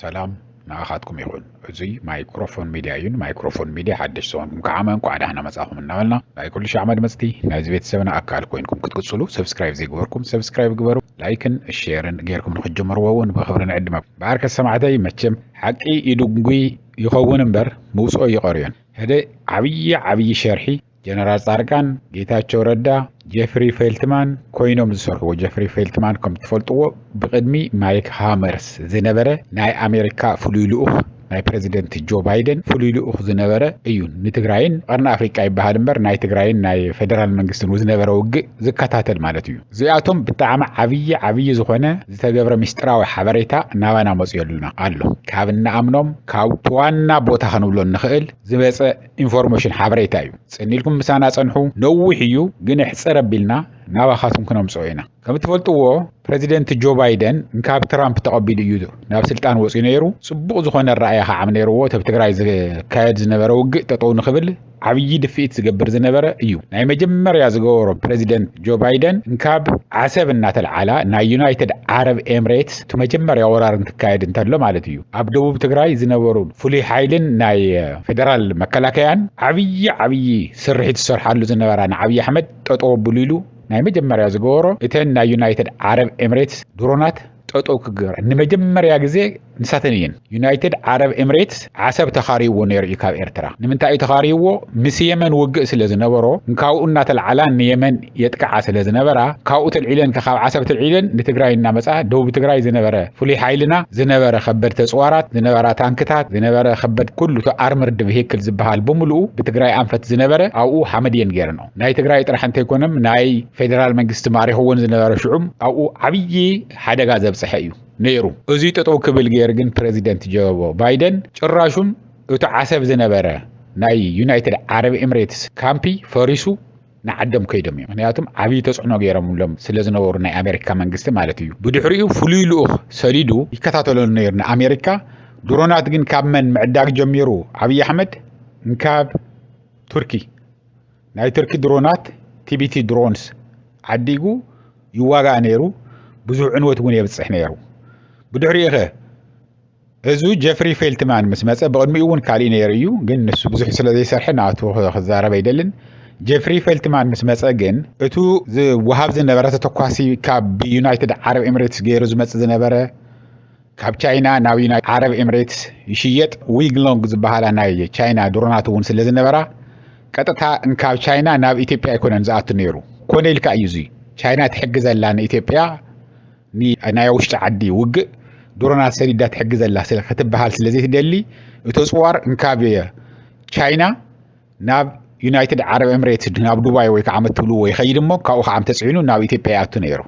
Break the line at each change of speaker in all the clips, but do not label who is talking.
ሰላም ንኣኻትኩም ይኹን እዙይ ማይክሮፎን ሚድያ እዩ ንማይክሮፎን ሚድያ ሓደሽ ዝኾንኩም ከዓመ እንኳዕ ዳሕና መጻኹም እናበልና ናይ ኩሉ ሻዕ መድመፅቲ ናይዚ ቤተሰብና ኣካል ኮይንኩም ክትቅፅሉ ሰብስክራይብ ዘይግበርኩም ሰብስክራይብ ግበሩ ላይክን ሼርን ጌርኩም ንክትጀምርዎ እውን ብክብሪ ንዕድመ በኣርከ ሰማዕተይ መቸም ሓቂ ይድንጉይ ይኸውን እምበር ምውፅኦ ይቐርዮን ህደ ዓብዪ ዓብዪ ሸርሒ ጀነራል ፃድቃን፣ ጌታቸው ረዳ፣ ጀፍሪ ፌልትማን ኮይኖም ዝሰርሕዎ ጀፍሪ ፌልትማን ከም ትፈልጥዎ ብቅድሚ ማይክ ሃመርስ ዝነበረ ናይ ኣሜሪካ ፍሉይ ልኡኽ ናይ ፕረዚደንት ጆ ባይደን ፍሉይ ልኡኽ ዝነበረ እዩ ንትግራይን ቀርኒ ኣፍሪቃ ይበሃል እምበር ናይ ትግራይን ናይ ፌደራል መንግስትን ዝነበረ ውግእ ዝከታተል ማለት እዩ እዚኣቶም ብጣዕሚ ዓብዪ ዓብዪ ዝኾነ ዝተገብረ ምስጢራዊ ሓበሬታ ናባና መፅዮልና ኣሎ ካብ እንኣምኖም ካብ ዋና ቦታ ክንብሎ እንኽእል ዝመፀ ኢንፎርሜሽን ሓበሬታ እዩ ጽን ኢልኩም ምሳና ጸንሑ ነዊሕ እዩ ግን ኣሕጽር ኣቢልና ናባኻትኩም ክነምጽኦ ኢና ከም እትፈልጥዎ ፕረዚደንት ጆ ባይደን እንካብ ትራምፕ ተቐቢሉ እዩ ናብ ስልጣን ወጽዩ ነይሩ ጽቡቕ ዝኾነ ኣረኣያ ከዓም ነይርዎ ተብ ትግራይ ዝካየድ ዝነበረ ውግእ ጠጠው ንኽብል ዓብዪ ድፍኢት ዝገብር ዝነበረ እዩ ናይ መጀመርያ ዝገበሮ ፕረዚደንት ጆ ባይደን እንካብ ዓሰብ እናተልዓላ ናይ ዩናይትድ ዓረብ ኤምሬትስ እቲ መጀመርያ ወራር እንትካየድ እንተሎ ማለት እዩ ኣብ ደቡብ ትግራይ ዝነበሩ ፍሉይ ሓይልን ናይ ፌደራል መከላከያን ዓብዪ ዓብዪ ስርሒት ዝሰርሓሉ ዝነበራ ንዓብዪ ኣሕመድ ጠጠው ኣብሉ ኢሉ ናይ መጀመርያ ዝገበሮ እተን ናይ ዩናይትድ ዓረብ ኤምሬትስ ድሮናት ጠጠው ክገብራ ንመጀመርያ ግዜ ንሳተን እየን ዩናይትድ ዓረብ ኤምሬትስ ዓሰብ ተኻርይዎ ነይሩ እዩ ካብ ኤርትራ። ንምንታይ እዩ ተኻርይዎ? ምስ የመን ውግእ ስለ ዝነበሮ ንካብኡ እናተልዓላ ንየመን የጥቅዓ ስለ ዝነበራ ካብኡ ተልዒለን ካብ ዓሰብ ተልዒለን ንትግራይ እናመፅኣ ደቡብ ትግራይ ዝነበረ ፍሉይ ሓይልና ዝነበረ ከበድቲ ኣፅዋራት ዝነበራ ታንክታት ዝነበረ ከበድ ኩሉ እቲ ኣርምርድ ቪሂክል ዝበሃል ብምልኡ ብትግራይ ኣንፈት ዝነበረ ኣብኡ ሓመድ እየን ገይረንኦ ናይ ትግራይ ጥራሕ እንተይኮነም ናይ ፌደራል መንግስቲ ማሪኽዎን ዝነበረ ሽዑም ኣብኡ ዓብዪ ሓደጋ ዘብፅሐ እዩ። ነይሩ። እዙይ ጠጠው ክብል ገይሩ ግን ፕረዚደንት ጀበቦ ባይደን ጭራሹን እቲ ዓሰብ ዝነበረ ናይ ዩናይትድ ዓረብ ኤምሬትስ ካምፒ ፈሪሱ ንዓዶም ከይዶም እዮም ምክንያቱም ዓብዪ ተፅዕኖ ገይሮምሎም ስለ ዝነበሩ ናይ ኣሜሪካ መንግስቲ ማለት እዩ ብድሕሪኡ ፍሉይ ልኡኽ ሰዲዱ ይከታተሎ ነይሩ ንኣሜሪካ ድሮናት ግን ካብ መን ምዕዳግ ጀሚሩ ዓብዪ ኣሕመድ እንካብ ቱርኪ ናይ ትርኪ ድሮናት ቲቢቲ ድሮንስ ዓዲጉ ይዋጋእ ነይሩ፣ ብዙሕ ዕንወት እውን የብጽሕ ነይሩ። ብድሕሪኡኸ እዙ ጀፍሪ ፌልትማን ምስ መጸ ብቕድሚኡ እውን ካሊእ ነይሩ እዩ፣ ግን ንሱ ብዙሕ ስለ ዘይሰርሐ ናቱ ክዛረብ ኣይደልን። ጀፍሪ ፌልትማን ምስ መጸ ግን እቱ ዝወሃብ ዝነበረ ተተኳሲ ካብ ዩናይትድ ዓረብ ኤምሬትስ ገይሩ ዝመጽእ ዝነበረ ካብ ቻይና ናብ ዩናይትድ ዓረብ ኤምሬትስ ይሽየጥ ዊንግሎንግ ዝበሃላ ናይ ቻይና ድሮናት እውን ስለ ዝነበራ ቀጥታ እንካብ ቻይና ናብ ኢትዮጵያ ኣይኮነን ዝኣቱ ነይሩ ኮነ ኢልካ እዩ እዙይ ቻይና ትሕግዘላ ንኢትዮጵያ ናይ ውሽጢ ዓዲ ውግእ ድሮናት ሰዲዳ ትሕግዘላ ክትበሃል ስለ ዘይትደሊ እቶ ፅዋር እንካብ ቻይና ናብ ዩናይትድ ዓረብ ኤምሬትስ ናብ ዱባይ ወይ ከዓ መትብልዎ ይኸይድ እሞ ካብኡ ከዓ ተፅዒኑ ናብ ኢትዮጵያ ይኣቱ ነይሩ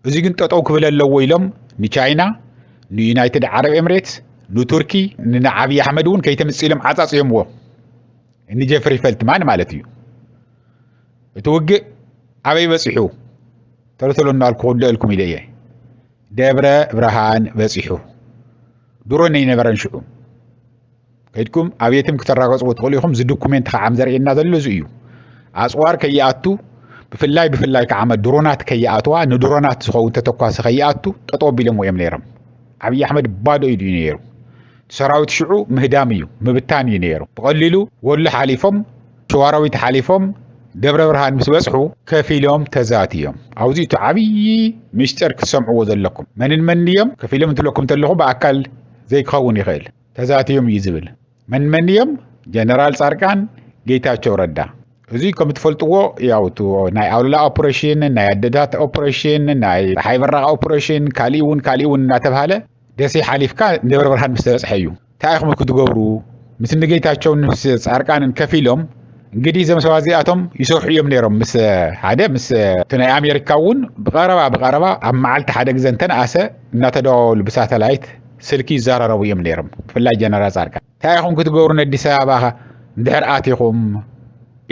እዚ ግን ጠጠው ክብል ኣለዎ ኢሎም ንቻይና፣ ንዩናይትድ ዓረብ ኤምሬትስ፣ ንቱርኪ፣ ንዓብዪ ኣሕመድ እውን ከይተምፅእ ኢሎም ዓፃፅዮምዎ ንጀፍሪ ፈልትማን ማለት እዩ። እቲ ውግእ ኣበይ በፂሑ ተልተሎ እናልኩ ክውደአልኩም ኢለ እየ ደብረ ብርሃን በፂሑ ድሮ ነይነበረን ሽዑ ከድኩም ኣብየትም ክተራገጽዎ ትኽእሉ ኢኹም እዚ ዶኩሜንት ከዓም ዘርእየና ዘሎ እዚ እዩ ኣጽዋር ከይኣቱ ብፍላይ ብፍላይ ከዓ ድሮናት ከይኣትዋ ንድሮናት ዝኸውን ተተኳሲ ከይኣቱ ጠጠው ኣቢሎሞ እዮም ነይሮም ዓብዪ ኣሕመድ ባዶ ኢዱ እዩ ነይሩ ሰራዊት ሽዑ ምህዳም እዩ ምብታን እዩ ነይሩ ብቐሊሉ ወሎ ሓሊፎም ሸዋራዊት ሓሊፎም ደብረ ብርሃን ምስ በጽሑ ከፊሎም ተዛት እዮም ኣብዚ እቲ ዓብዪ ምስጢር ክትሰምዕዎ ዘለኩም መንን መን እዮም ከፊሎም እንትብለኩም እንተለኹ ብኣካል ዘይክኸውን ይኽእል ተዛትዮም እዩ ዝብል መንመን እዮም ጀነራል ፃርቃን ጌታቸው ረዳ እዙይ ከም ትፈልጥዎ ያው ናይ ኣውልላ ኦፕሬሽን ናይ ኣደታት ኦፕሬሽን ናይ ፀሓይ በራቅ ኦፕሬሽን ካሊእ እውን ካሊእ እውን እናተብሃለ ደሴ ሓሊፍካ ደብረ ብርሃን ምስ ተበፅሐ እዩ እንታይ ኢኹም ክትገብሩ ምስ ንጌታቸውን ምስ ፃርቃንን ከፍ ኢሎም እንግዲህ እዞም ሰባት እዚኣቶም ይሰርሑ እዮም ነይሮም ምስ ሓደ ምስ እቲ ናይ ኣሜሪካ እውን ብቀረባ ብቀረባ ኣብ መዓልቲ ሓደ ግዘ እንተነኣሰ እናተደዋወሉ ብሳተላይት ስልኪ ይዘራረቡ እዮም ነይሮም ብፍላይ ጀነራል ጻድቃን እንታይ ኢኹም ክትገብሩ ነዲስ ኣበባኻ ድሕር ኣቲኹም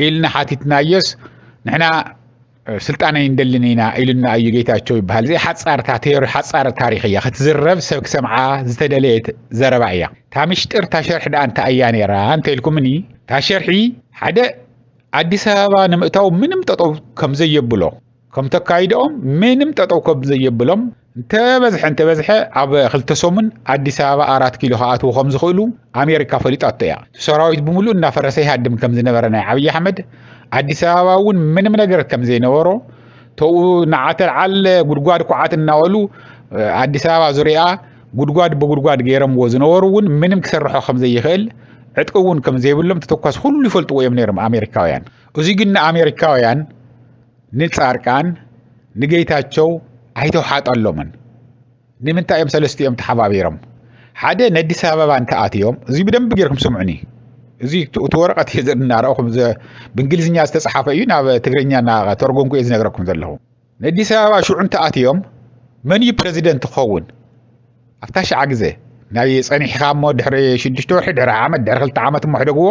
ኢልና ሓቲትናዮስ ንሕና ስልጣን ኣይንደልን ኢና ኢሉና እዩ ጌታቸው ይበሃል እዚ ሓፃር ታቴር ሓፃር ታሪክ እያ ክትዝረብ ሰብ ክሰምዓ ዝተደለየት ዘረባ እያ እታ ምሽጢር እታ ሸርሒ ደኣ እንታይ እያ ነይራ እንተኢልኩምኒ እታ ሸርሒ ሓደ ኣዲስ ኣበባ ንምእታው ምንም ጠጠው ከምዘየብሎ ከም ተካይድኦም ምንም ጠጠው ከብ ዘየብሎም እንተበዝሐ እንተበዝሐ ኣብ ክልተ ሰሙን ኣዲስ ኣበባ ኣራት ኪሎ ክኣትዉ ከም ዝኽእሉ ኣሜሪካ ፈሊጣቶ እያ ሰራዊት ብምሉእ እናፈረሰ ይሃድም ከም ዝነበረ ናይ ዓብዪ ኣሕመድ ኣዲስ ኣበባ እውን ምንም ነገር ከም ዘይነበሮ ተኡ ንዓተልዓል ጉድጓድ ኩዓት እናበሉ ኣዲስ ኣበባ ዙሪያ ጉድጓድ ብጉድጓድ ገይረምዎ ዝነበሩ እውን ምንም ክሰርሖ ከም ዘይኽእል ዕጥቂ እውን ከም ዘይብሎም ተተኳስ ኩሉ ይፈልጥዎ እዮም ነይሮም ኣሜሪካውያን እዚ ግን ንኣሜሪካውያን ንፃርቃን ንጌታቸው ኣይተውሓጠሎምን ንምንታይ እዮም ሰለስቲኦም ተሓባቢሮም ሓደ ነዲስ ኣበባ እንተኣትዮም እዚ ብደንብ ጌርኩም ስምዑኒ እዚ እቲ ወረቐት እዩ እናረእኹም ብእንግሊዝኛ ዝተፅሓፈ እዩ ናብ ትግርኛ እናተርጎምኩ እየ ዝነግረኩም ዘለኹ ነዲስ ኣበባ ሽዑ እንተኣትዮም መን እዩ ፕረዚደንት ክኸውን ኣብታ ሸዓ ግዜ ናይ ፀኒሕኻ እሞ ድሕሪ ሽዱሽተ ወርሒ ድሕሪ ዓመት ድሕሪ ክልተ ዓመት እሞ ሕደግዎ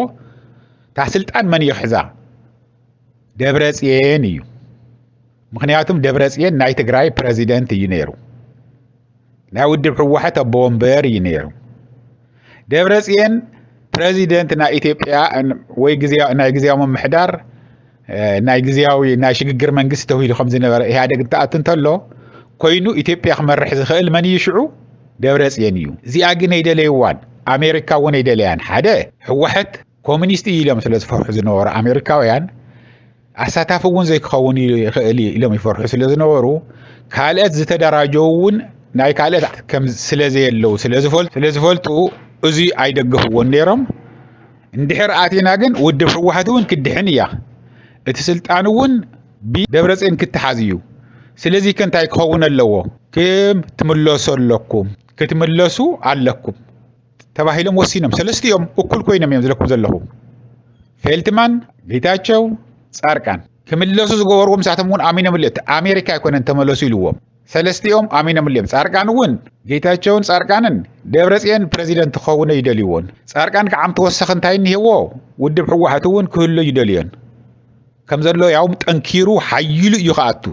እታ ስልጣን መን እዩ ክሕዛ ደብረፅየን እዩ ምክንያቱም ደብረፅየን ናይ ትግራይ ፕረዚደንት እዩ ነይሩ ናይ ውድብ ሕወሓት ኣቦ ወንበር እዩ ነይሩ ደብረፅየን ፕረዚደንት ናይ ኢትዮጵያ ወይ ናይ ግዜያዊ ምምሕዳር ናይ ግዜያዊ ናይ ሽግግር መንግስቲ ተውሂሉ ከም ዝነበረ ኢህኣደግ እንትኣቱ እንተሎ ኮይኑ ኢትዮጵያ ክመርሕ ዝኽእል መን እዩ ሽዑ ደብረፅየን እዩ እዚኣ ግን ኣይደለይዋን ኣሜሪካ እውን ኣይደለያን ሓደ ሕወሓት ኮሚኒስት እዩ ኢሎም ስለ ዝፈርሑ ዝነበሩ ኣሜሪካውያን ኣሳታፊ እውን ዘይክኸውን ይኽእል እዩ ኢሎም ይፈርሑ ስለ ዝነበሩ ካልኦት ዝተደራጀው እውን ናይ ካልኦት ከም ስለ ዘየለው ስለ ዝፈልጡ እዚ ኣይደገፍዎን ነይሮም እንድሕር ኣቲና ግን ውድብ ህወሓት እውን ክድሕን እያ እቲ ስልጣን እውን ብደብረፅን ክትሓዝ እዩ ስለዚ ከ እንታይ ክኸውን ኣለዎ ክም ትምለሱ ኣለኩም ክትምለሱ ኣለኩም ተባሂሎም ወሲኖም ሰለስቲኦም እኩል ኮይኖም እዮም ዝለኩም ዘለኹ ፌልትማን ጌታቸው ፃርቃን ክምለሱ ዝገበርዎም ንሳቶም እውን ኣሚኖምሉ እቲ ኣሜሪካ ኣይኮነን ተመለሱ ኢልዎም ሰለስቲኦም ኣሚኖምሉ እዮም ፃርቃን እውን ጌታቸውን ፃርቃንን ደብረፅዮን ፕረዚደንት ክኸውነ ይደልይዎን ፃርቃን ከዓም ተወሰኺ እንታይ እኒሄዎ ውድብ ሕወሓት እውን ክህሎ ይደልዮን ከም ዘሎ ያውም ጠንኪሩ ሓይሉ እዩ ክኣቱ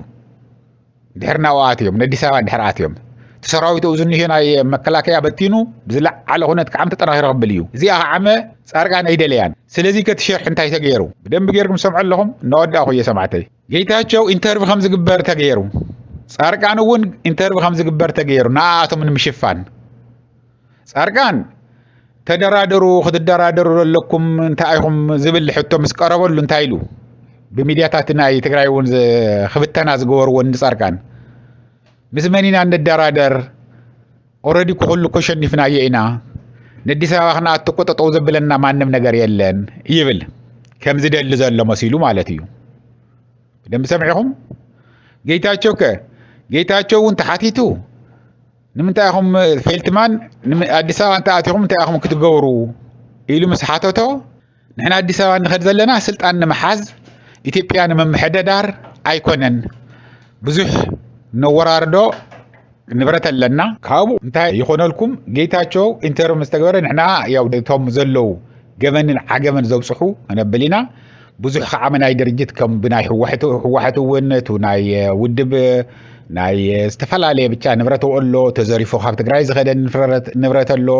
ድሕሪ ናብኡ ኣትዮም ነዲስ ኣበባ ድሕሪ ኣትዮም እቲ ሰራዊት እዚ ዝኒሄ ናይ መከላከያ በቲኑ ብዝለዓለ ኩነት ከዓም ተጠናኺሩ ክብል እዩ እዚኣ ከዓመ ፃርቃን ኣይደለያን ስለዚ ከቲ ሸርሒ እንታይ ተገይሩ ብደንቢ ገይርኩም ሰምዖ ኣለኹም እናወዳእኹ እየ ሰማዕተይ ጌታቸው ኢንተርቪ ከም ዝግበር ተገይሩ ፃርቃን እውን ኢንተርቪ ከም ዝግበር ተገይሩ ንኣኣቶም ንምሽፋን ጻድቃን ተደራደሩ ክትደራደሩ ዘለኩም እንታይ ኢኹም ዝብል ሕቶ ምስ ቀረበሉ እንታይ ኢሉ ብሚድያታት ናይ ትግራይ እውን ክብተና ዝገበርዎ ንጻድቃን ምስ መን ኢና እንደራደር ኦረዲ ኩሉ እኮ ሸኒፍናዮ ኢና ንኣዲስ ኣበባ ክንኣቱ እኮ ጠጠው ዘብለና ማንም ነገር የለን ይብል ከም ዝደሊ ዘሎ መሲሉ ማለት እዩ ደምቢ ሰምዒኹም ጌታቸው ከ ጌታቸው እውን ተሓቲቱ ንምንታይ ኢኹም ፌልትማን ኣዲስ ኣበባ እንተኣቲኹም እንታይ ኢኹም ክትገብሩ ኢሉ ምስ ሓተቶ ንሕና ኣዲስ ኣበባ ንኸድ ዘለና ስልጣን ንምሓዝ ኢትዮጵያ ንምምሕደዳር ኣይኮነን ብዙሕ ነወራርዶ ንብረት ኣለና ካብኡ እንታይ ይኾነልኩም ጌታቸው ኢንተርም ዝተገበረ ንሕና ያው እቶም ዘለዉ ገበንን ዓገበን ዘብፅሑ ክነብል ኢና ብዙሕ ከዓመ ናይ ድርጅት ከም ብናይ ህወሕት ህወሓት እውን እቲ ናይ ውድብ ናይ ዝተፈላለየ ብቻ ንብረት ኣሎ ተዘሪፎ ካብ ትግራይ ዝኸደ ንብረት ኣሎ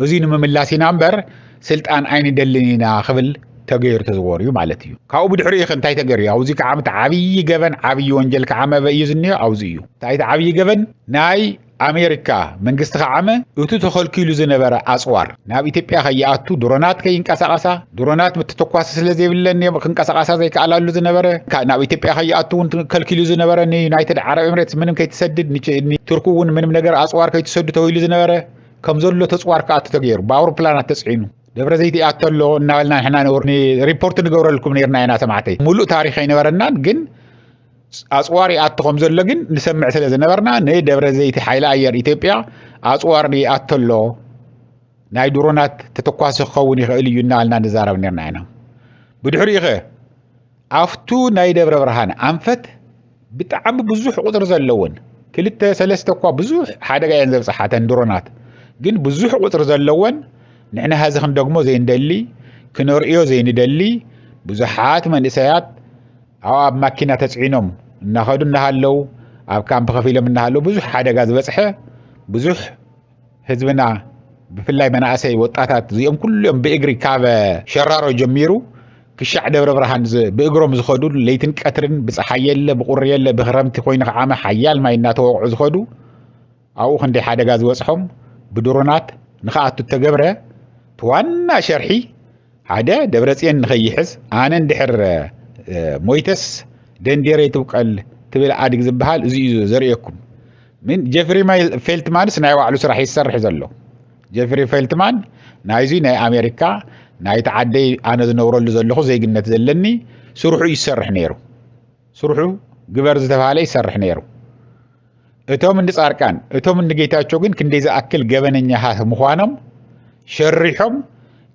እዙይ ንምምላስ ኢና እምበር ስልጣን ኣይንደልን ኢና ክብል ተገይሩ ተዝወር እዩ ማለት እዩ ካብኡ ብድሕሪ ዩ እንታይ ተገይሩ እዩ ኣብዚ ከዓ ዓብዪ ገበን ዓብዪ ወንጀል ከዓ መበ እዩ ዝኒኦ ኣብዚ እዩ እንታይ ዓብዪ ገበን ናይ ኣሜሪካ፣ መንግስቲ ከዓመ እቱ ተኸልኪሉ ዝነበረ ኣፅዋር ናብ ኢትዮጵያ ከይኣቱ ድሮናት ከይንቀሳቐሳ ድሮናት ምትተኳሲ ስለዘይብለን እየም ክንቀሳቐሳ ዘይከኣላሉ ዝነበረ ናብ ኢትዮጵያ ከይኣቱ እውን ከልኪሉ ዝነበረ ንዩናይትድ ዓረብ ኤምሬትስ ምንም ከይትሰድድ ቱርክ እውን ምንም ነገር ኣፅዋር ከይትሰዱ ተባሂሉ ዝነበረ ከም ዘሎ ተፅዋር ክኣቱ ተገይሩ ብኣውሮፕላናት ተፅዒኑ ደብረ ዘይት ይኣቶ ኣሎ እናበልና ንሕና ሪፖርት ንገብረልኩም ነርና ኢና ሰማዕተይ ሙሉእ ታሪክ ኣይነበረናን ግን ኣፅዋር ይኣቱ ከም ዘሎ ግን ንሰምዕ ስለ ዝነበርና ንደብረ ዘይቲ ሓይሊ ኣየር ኢትዮጵያ ኣፅዋር ይኣቶ ኣሎ ናይ ድሮናት ተተኳሲ ክኸውን ይኽእል እዩ እናበልና ንዛረብ ነርና ኢና ብድሕሪኡ ኸ ኣብቱ ናይ ደብረ ብርሃን ኣንፈት ብጣዕሚ ብዙሕ ቁፅሪ ዘለዎን ክልተ ሰለስተ እኳ ብዙሕ ሓደጋ እየን ዘብፅሓተን ድሮናት ግን ብዙሕ ቁፅሪ ዘለዎን ንሕና ሀዚ ክንደግሞ ዘይንደሊ ክነርእዮ ዘይንደሊ ብዙሓት መንእሰያት ኣብኡ ኣብ ማኪና ተፅዒኖም እናኸዱ እናሃለው ኣብ ካምፕ ከፊሎም እናሃለው ብዙሕ ሓደጋ ዝበፅሐ ብዙሕ ህዝብና ብፍላይ መናእሰይ ወጣታት እዚኦም ኩሉኦም ብእግሪ ካብ ሸራሮ ጀሚሩ ክሻዕ ደብረ ብርሃን ብእግሮም ዝኸዱ ለይትን ቀትርን ብፀሓይ የለ ብቁሪ የለ ብክረምቲ ኮይኑ ከዓመ ሓያል ማይ እናተወቕዑ ዝኸዱ ኣብኡ ክንደይ ሓደጋ ዝበጽሖም ብድሮናት ንክኣቱ እተገብረ እቲ ዋና ሸርሒ ሓደ ደብረጽዮን ንኸይሕዝ ኣነ እንድሕር ሞይተስ ደንዴረይ ትብቀል ትብል ኣድግ ዝበሃል እዚ እዩ ዘርእየኩም ምን ጀፍሪ ፌልትማንስ ናይ ባዕሉ ስራሕ ይሰርሕ ዘሎ ጀፍሪ ፌልትማን ናይዚ ናይ ኣሜሪካ ናይቲ ዓደይ ኣነ ዝነብረሉ ዘለኹ ዜግነት ዘለኒ ስርሑ ይሰርሕ ነይሩ ስርሑ ግበር ዝተባሃለ ይሰርሕ ነይሩ እቶም እንዲ ጻርቃን እቶም እንዲ ጌታቸው ግን ክንደይ ዝኣክል ገበነኛታት ምዃኖም ሸሪሖም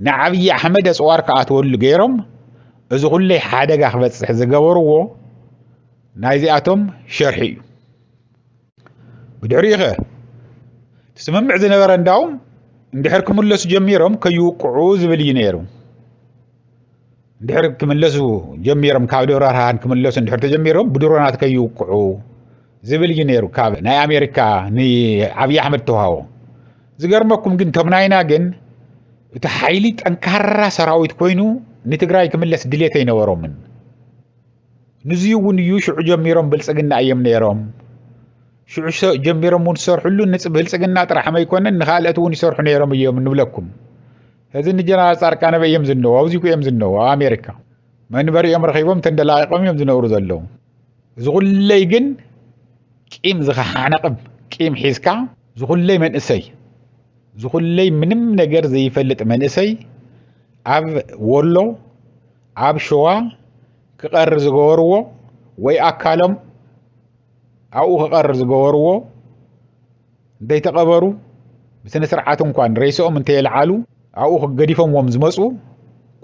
ንዓብዪ ኣሕመድ ኣፅዋር ክኣትወሉ ገይሮም እዚ ኩለይ ሓደጋ ክበፅሕ ዝገበርዎ ናይዚኣቶም ሸርሒ እዩ ብድሕሪኡ ኸ ስምምዕ ዝነበረ እንዳውም እንድሕር ክምለሱ ጀሚሮም ከይውቅዑ ዝብል እዩ ነይሩ ድሕሪ ክምለሱ ጀሚሮም ካብ ደብረ ብርሃን ክምለሱ ድሕሪ ተጀሚሮም ብድሮናት ከይውቅዑ ዝብል እዩ ነይሩ ካብ ናይ ኣሜሪካ ንዓብዪ ኣሕመድ ተዋሃቦ ዝገርመኩም ግን ከም ናይና ግን እቲ ሓይሊ ጠንካራ ሰራዊት ኮይኑ ንትግራይ ክምለስ ድሌት ኣይነበሮምን ንዙ እውን እዩ ሽዑ ጀሚሮም ብልፅግና እዮም ነይሮም ሽዑ ጀሚሮም እውን ዝሰርሕሉ ንብልፅግና ጥራሕ መይኮነን ንካልኦት እውን ይሰርሑ ነይሮም እዮም ንብለኩም ሕዚ ንጀነራል ጻርቃን ኣበይ እዮም ዝነዉ ኣብዚኩ እዮም ዝነዉ ኣብ ኣሜሪካ መንበሪ እዮም ረኺቦም ተንደላቂቆም እዮም ዝነብሩ ዘለዉ እዚ ኩለይ ግን ቂም ዝኸሓነቕም ቂም ሒዝካ ዝኹለይ መንእሰይ ዝኹለይ ምንም ነገር ዘይፈልጥ መንእሰይ ኣብ ወሎ ኣብ ሸዋ ክቐሪ ዝገበርዎ ወይ ኣካሎም ኣብኡ ክቐሪ ዝገበርዎ እንተይተቐበሩ ብስነ ስርዓት እንኳን ሬስኦም እንተየልዓሉ ኣብኡ ክገዲፎምዎም ዝመፁ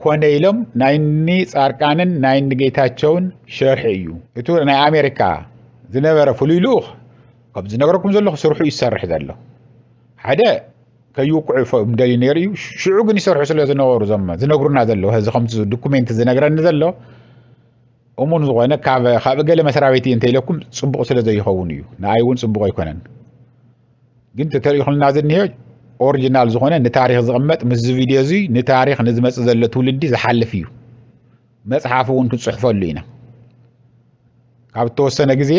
ኮነ ኢሎም ናይኒ ጻርቃንን ናይኒ ጌታቸውን ሸርሒ እዩ እቱ ናይ ኣሜሪካ ዝነበረ ፍሉይ ልኡኽ ከም ዝነገረኩም ዘለኹ ስርሑ እዩ ዝሰርሕ ዘሎ ሓደ ከይውቅዑ ፎም ደልዩ ነይሩ እዩ ሽዑ ግን ይሰርሑ ስለ ዝነበሩ ዞም ዝነግሩና ዘለዉ እዚ ከምቲ ዶኩሜንት ዝነግረኒ ዘሎ እሙን ዝኾነ ካብ ካብ እገለ መስሪያ ቤት እንተ ኢለኩም ጽቡቕ ስለ ዘይኸውን እዩ ንኣይ እውን ጽቡቕ ኣይኮነን ግን ተተሪኹልና ዝኒሄ ኦሪጂናል ዝኾነ ንታሪክ ዝቕመጥ ምስ ቪድዮ እዚ ንታሪክ ንዝመፅእ ዘሎ ትውልዲ ዝሓልፍ እዩ መፅሓፍ እውን ክንፅሕፈሉ ኢና ካብ እተወሰነ ግዜ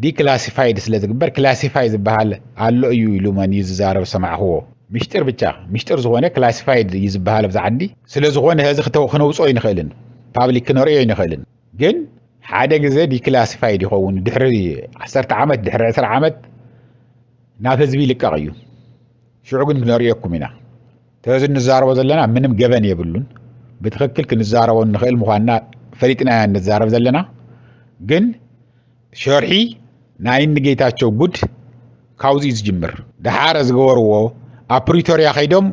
ዲክላሲፋይድ ስለ ዝግበር ክላሲፋይ ዝበሃል ኣሎ እዩ ኢሉ መን እዩ ዝዛረብ ዝሰማዕክዎ ምሽጢር ብቻ ምሽጢር ዝኾነ ክላሲፋይድ እዩ ዝበሃል ኣብዚ ዓዲ ስለ ዝኾነ ሀዚ ክነውፅኦ ኣይንኽእልን ፓብሊክ ክነርእዮ ኣይንኽእልን ግን ሓደ ግዘ ዲክላሲፋይድ ይኸውን ድሕሪ ዓሰርተ ዓመት ድሕሪ ዕስራ ዓመት ናብ ህዝቢ ይልቀቕ እዩ ሽዑ ግን ክነርእየኩም ኢና ተዚ እንዛረቦ ዘለና ምንም ገበን የብሉን ብትክክል ክንዛረቦ እንኽእል ምዃንና ፈሊጥና ኢና እንዛረብ ዘለና ግን ሸርሒ ናይ እኒ ጌታቸው ጉድ ካብዚ እዩ ዝጅምር። ደሓር ዝገበርዎ ኣብ ፕሪቶርያ ከይዶም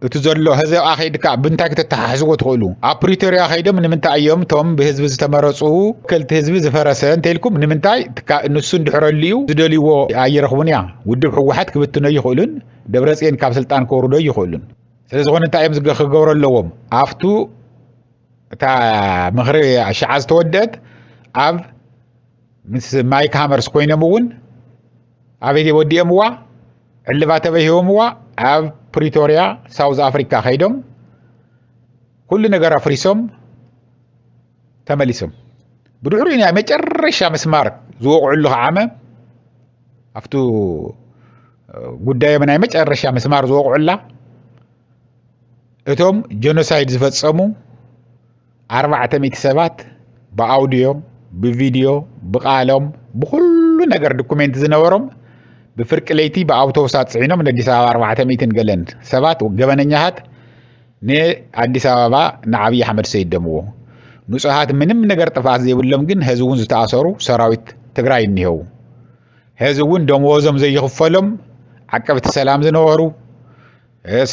እቲ ዘሎ ህዘብ ኣኸይድካ ብምንታይ ክተተሓሕዝዎ ትኽእሉ ኣብ ፕሪቶርያ ከይዶም ንምንታይ እዮም እቶም ብህዝቢ ዝተመረፁ ወከልቲ ህዝቢ ዝፈረሰ እንተይልኩም ንምንታይ ንሱ እንድሕረሉ እዩ ዝደልይዎ ኣይረኽቡን እያ ውድብ ሕወሓት ክብትኖ ይኽእሉን ደብረፅዮን ካብ ስልጣን ከውርዶ ይኽእሉን ስለዝኾነ እንታይ እዮም ክገብሮ ኣለዎም ኣብቱ እታ ምኽሪ ኣሽዓ ዝተወደት ኣብ ምስ ማይክ ሃመርስ ኮይኖም እውን ኣበይ ወዲኦምዋ ዕልባ ተበይ ሂቦምዋ ኣብ ፕሪቶርያ ሳውዝ ኣፍሪካ ከይዶም ኩሉ ነገር ኣፍሪሶም ተመሊሶም ብድሕሪ ናይ መጨረሻ ምስማር ዝወቕዕሉ ዓመ ኣብቲ ጉዳዮም ናይ መጨረሻ ምስማር ዝወቕዑላ እቶም ጀኖሳይድ ዝፈጸሙ ኣርባዕተ ሚእቲ ሰባት ብኣውድዮ ብቪድዮ ብቃሎም ብኩሉ ነገር ዶኩሜንት ዝነበሮም ብፍርቂ ለይቲ ብኣውቶቡሳት ፅዒኖም ንኣዲስ ኣበባ ኣርባዕተ ሚእትን ገለን ሰባት ገበነኛታት ንኣዲስ ኣበባ ንዓብዪ ኣሕመድ ሰይደምዎ ንፁሃት ምንም ነገር ጥፍኣት ዘይብሎም ግን ህዚ እውን ዝተኣሰሩ ሰራዊት ትግራይ እኒሄው ህዚ እውን ደመወዞም ዘይኽፈሎም ዓቀብቲ ሰላም ዝነበሩ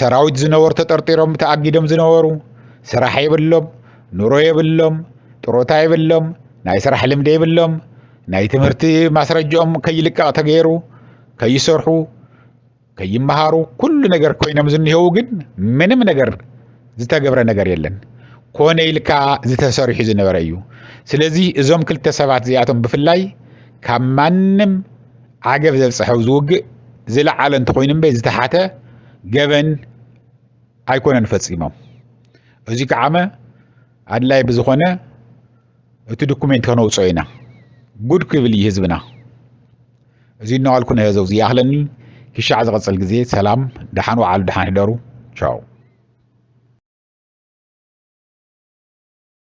ሰራዊት ዝነበሩ ተጠርጢሮም ተኣጊዶም ዝነበሩ ስራሕ የብሎም፣ ኑሮ የብሎም፣ ጥሮታ የብሎም፣ ናይ ስራሕ ልምዲ የብሎም፣ ናይ ትምህርቲ ማስረጅኦም ከይልቀቕ ተገይሩ ከይሰርሑ ከይመሃሩ ኩሉ ነገር ኮይኖም ዝኒሄው ግን ምንም ነገር ዝተገብረ ነገር የለን። ኮነ ኢልካ ዝተሰሪሑ ዝነበረ እዩ። ስለዚ እዞም ክልተ ሰባት እዚኣቶም ብፍላይ ካብ ማንም ዓገብ ዘብፅሐ ኣብዚ ውግእ ዝለዓለ እንተኾይኑ እምበይ ዝተሓተ ገበን ኣይኮነን ፈፂሞም እዚ ከዓመ ኣድላይ ብዝኾነ እቲ ዶኩሜንት ከነውፅኦ ኢና ጉድ ክብል እዩ ህዝብና እዚ እናዋልኩ ነዮ ዘውዚ ይኣኽለኒ ክሻዕ ዝቐፅል ግዜ ሰላም ደሓን ወዓሉ ደሓን ህደሩ ቻው